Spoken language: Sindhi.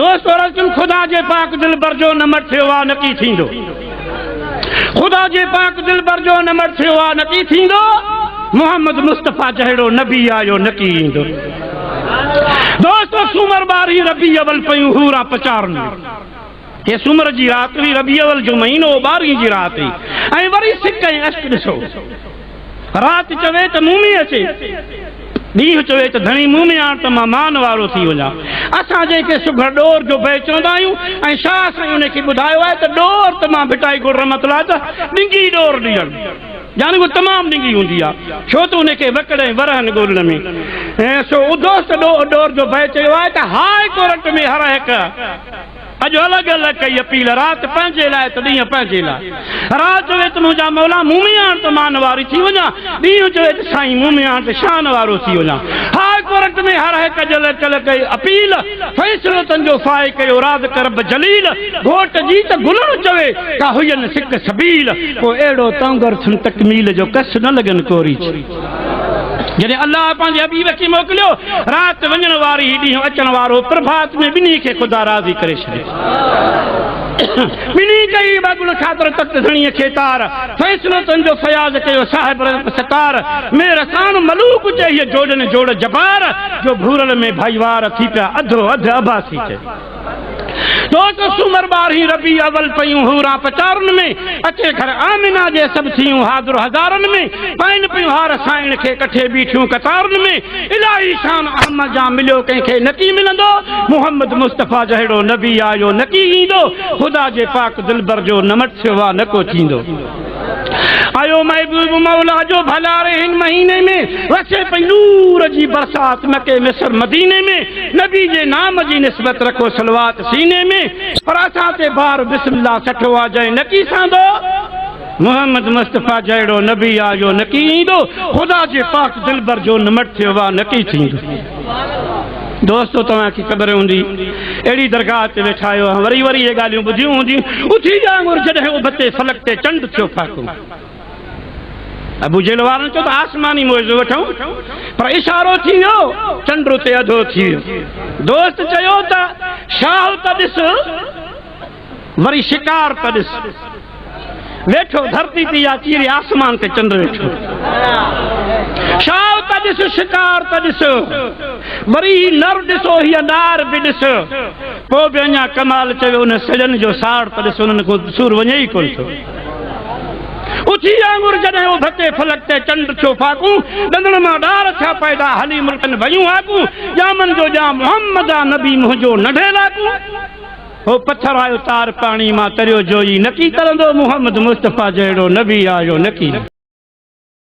دوستو رسول خدا جي پاڪ دلبر جو نمر ٿيو آ نڪي ٿيندو خدا جي پاڪ دلبر جو نمر ٿيو آ نڪي ٿيندو محمد مصطفيٰ جهڙو نبي آيو نڪي ايندو دوستو سومر باري ربي اول پيون هورا پچارن هي سومر جي رات هئي ربي اول جو مهينو باري جي رات هئي ۽ وري سڪ ۽ عشق ڏسو رات چوي ته مون ۾ اچي، ڏينهن چوي ته ڌڻي مون ۾ آڻ ته مان مان وارو ٿي وڃان. اسان جنهن کي سگهڙ ڏور جو بئي چوندا آهيون ۽ شاهه سائين ان کي ٻڌايو آهي ته ڏور ته مان ڀٽائي گل رحمت الله جا ڏنگي ڏور ڏيڻ يعني اها تمام ڏنگي هوندي آهي ڇو ته ان کي وڪڙ ۽ ورهن ڳولڻ ۾ سو ادوست ڏور جو بئي چيو آهي ته هاء ڪورٽ ۾ هر هڪ اڄ الڳ الڳ ڪئي اپيل رات پنهنجي لاء ته ڏينهن پنهنجي لاء رات جو اچ منهنجا مولا مومياڻ ته مان واري ٿي وڃان ڏينهن جو اچ سائين مومياڻ ته شان وارو ٿي وڃان هاء ڪورٽ ۾ هر هڪ اڄ الڳ الڳ ڪئي اپيل فيصلو تن جو فائي ڪيو رازق رب جليل گهوٽ جي ته گلڻ چوي ڪا هئين سڪ سبيل ڪو اهڙو تونگر ٿن تڪميل جو ڪس نه لڳن ڪوري جڏهن الله پنهنجي حبيب کي موڪليو، رات وڃڻ واري هي ڏينهن اچڻ وارو، پرڀات ۾ ٻنهي کي خدا راضي ڪري ڇڏيو. ٻنهي ڪئي بابل خاطر تخت ڌڻيء کي تار، فيصلو تن جو فياض ڪيو صاحب رزق ستار، ۾ رسان ملوڪ چئي جوڏن جوڙ جبار، جو ڀورل ۾ ڀائيوار ٿي پيا اڌو اڌ اڀا ٿي چئي. ٽو ٽو سومر ٻارهين ربيع اول پيون حوران پچارن ۾، اچي گهر آمنه جي سڀ ٿيون حاضر هزارن ۾، پائين پيون هار سائڻ کي ڪٺي بيٺيون قطارن ۾، الاهي شان احمد جان مليو ڪنهن کي نڪي ملندو، محمد مصطفيٰ جهڙو نبي آيو نڪي ايندو، خدا جي پاڪ دلبر جو نه مٽ سوا نڪو ٿيندو. ايو محبوب مولا جو ڀلاري هن مهيني ۾ وسي پئي نور جي برسات مڪي مصر مديني ۾ نبي جي نام جي نسبت رکو صلوات سيني ۾ پر اسان تي بار بسم الله سٺو آ جنهن نه ڪي ساندو محمد مصطفي جهڙو نبي آيو نه ڪي ايندو خدا جي پاڪ دلبر جو نمٽ ٿيو آ نه ڪي ٿيندو. دوستو توهان کي خبر هوندي اهڙي درگاهه تي ويٺا آهيو ها وري وري اهي ڳالهيون ٻڌيون هونديون اٿي جا انگر جڏهن ابتي فلڪ تي چنڊ ٿيو ڦاڪو ابو جهل وارن چيو ته آسماني معجزو وٺون پر اشارو ٿي ويو چنڊ اتي اڌو ٿي ويو دوست چيو ته شاهه ته ڏس وري شڪار ته ڏس ويٺو ڌرتي تي يا چيري آسمان تي چنڊ ويٺو شال ته ڏس شڪار ته ڏس وري هي نر ڏسو هي نار به ڏس پوء به اڃا ڪمال چيو ان سڄن جو ساڙ ته ڏس انهن کان سور وڃي ئي ڪونه ٿو اٿي آنگر جڏهن او ڀتي فلڪ تي چنڊ ٿيو فاقو ڏندڻ مان ڏار ٿيا پيدا هلي ملڪن ويون آڪو ڄامن جو ڄام محمد آ نبي منهنجو نڍي لاڪو هو پٿر آيو تار پاڻي مان تريو جويي نڪي ترندو محمد مصطفيٰ جهڙو نبي آيو نڪي.